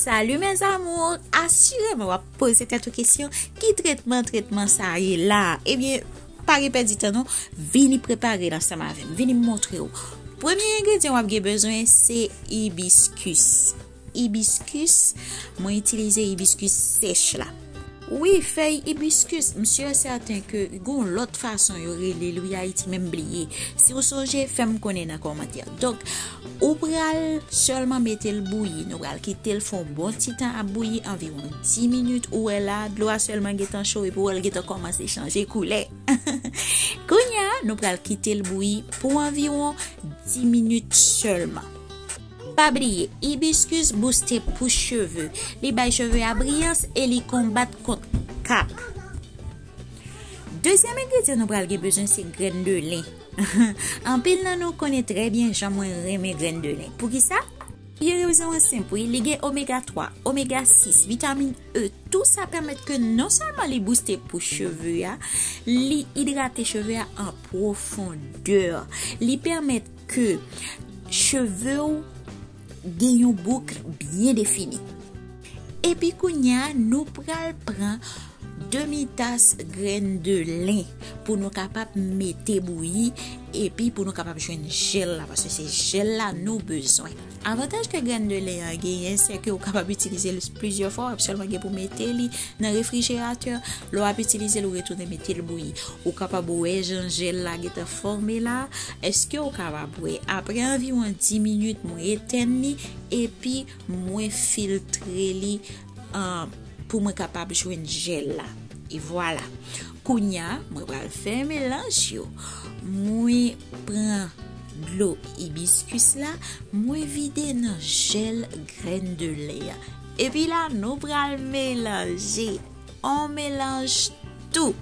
Salut mes amours, asireman wap pose tèt ou kesyon ki tretman tretman sa ye la Ebyen, eh pa gen pèdi tan nou, vini prepare nan sa ma vin, vini montre ou Premye engredyen wap gen bezwen se ibiskus Hibiscus mwen itilize hibiscus sèch la. Wi fèy hibiscus m sur et certain ke gon lòt fason yo relel wi ayiti men m bliye si ou sonje fèm konnen nan kòmantè donk ou pral sèlman metel bouyi nou pral kitel fon bon ti tan ap bouyi anviwon 10 minit ou wè la dlo a sèlman gentan cho epi ou wèl gentan kòmanse chanje koulè kounya nou pral kitel bouyi pou anviwon 10 minit sèlman. Pa bliye, Hibiscus booste pous cheve, li bay cheve a briyans e li konbat kont kap. Dezyèm engredyan nou pral gen bezwen se grenn de lin. Anpil nan nou konnen trè byen jan mwen renmen grenn de lin. Poukisa? Pi rezon an senp wi, li gen omega 3, omega 6, vitamin E, tou sa pèmèt ke non sèlman li booste pous cheve a, li idrate cheve a an pwofondè. Li pèmèt Ke cheve ou gen yon boucle byen defini. Epi kounya nou pral pran demi tas grenn de lin pou nou kapab mete bouyi epi pou nou kapab jwenn jel la paske se jel la nou bezwen. Avantaj ke grenn de lè a genyen se ke ou kapab itilize l plizyè fwa, wap sèlman gen pou mete li nan refrijeratè, lè wap itilize l ou retounen mete l bouyi. Ou kapab wè jan jèl la gentan fòme la, eske ou kapab wè aprè anviwon 10 minit mwen etèn li epi mwen filtre li. Pou mwen kapab jwenn jel la. E vwala. Kounya mwen pral fè melanj yo. Mwen pran dlo ibiskus la. Mwen vide nan jel grenn de lè a. Epi la nou pral melanje. On melanj tou.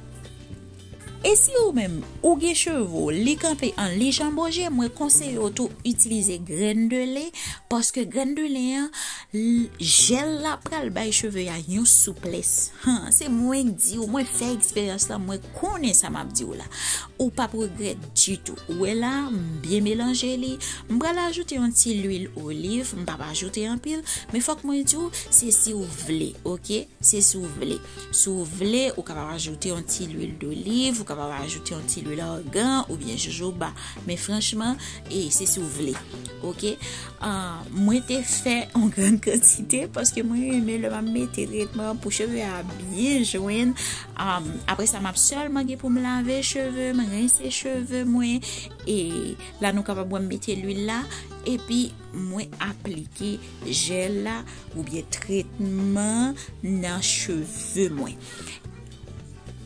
E si ou menm ou gen cheve w li kanpe an li janboje mwen konseye w tou itilize grenn de len paske grenn de len an jèl la pral bay cheve a yon souplès han se mwen k di w mwen fè eksperyans lan mwen konnen sa map di w la ou pap regrèt ditou ou wè la m byen melanje li m pral ajoute yon ti lwil oliv m pap ajoute anpil men fòk mwen di w se si w vle ok se si w vle. Si w vle, ou kapab ajoute yon ti lwil doliv, ou kapab ajoute yon ti lwil organ ou byen jojoba. Men franchman, e se si w vle. Ok? Mwen te fè yon gran kantite paske mwen reme lè m ap mete tretman pou cheve a byen jwenn. Apre sa, m ap sèlman gen pou m lave cheve m, rense cheve mwen. E la nou kapab wè m mete lwil la. E pi mwen aplike Jel la oubyen tretman nan cheve mwen.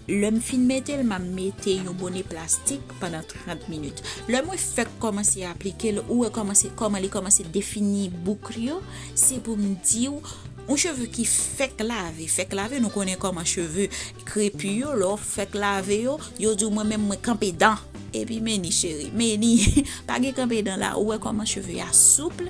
Lè m fin mete l, m ap mete yon bone plastik pandan 30 minit. Lè mwen fèk kòmanse aplike l, ou wè kòman li kòmanse defini bouk li yo, se pou m di w, yon cheve ki fèk lave, fèk lave nou konnen kòman cheve krepi yo, lè w fèk lave yo, yo di w mwen menm mwen kanpe dan. Epi meni cheri, meni, pa gen kanpe dan la, ou wè kòman cheve a souple.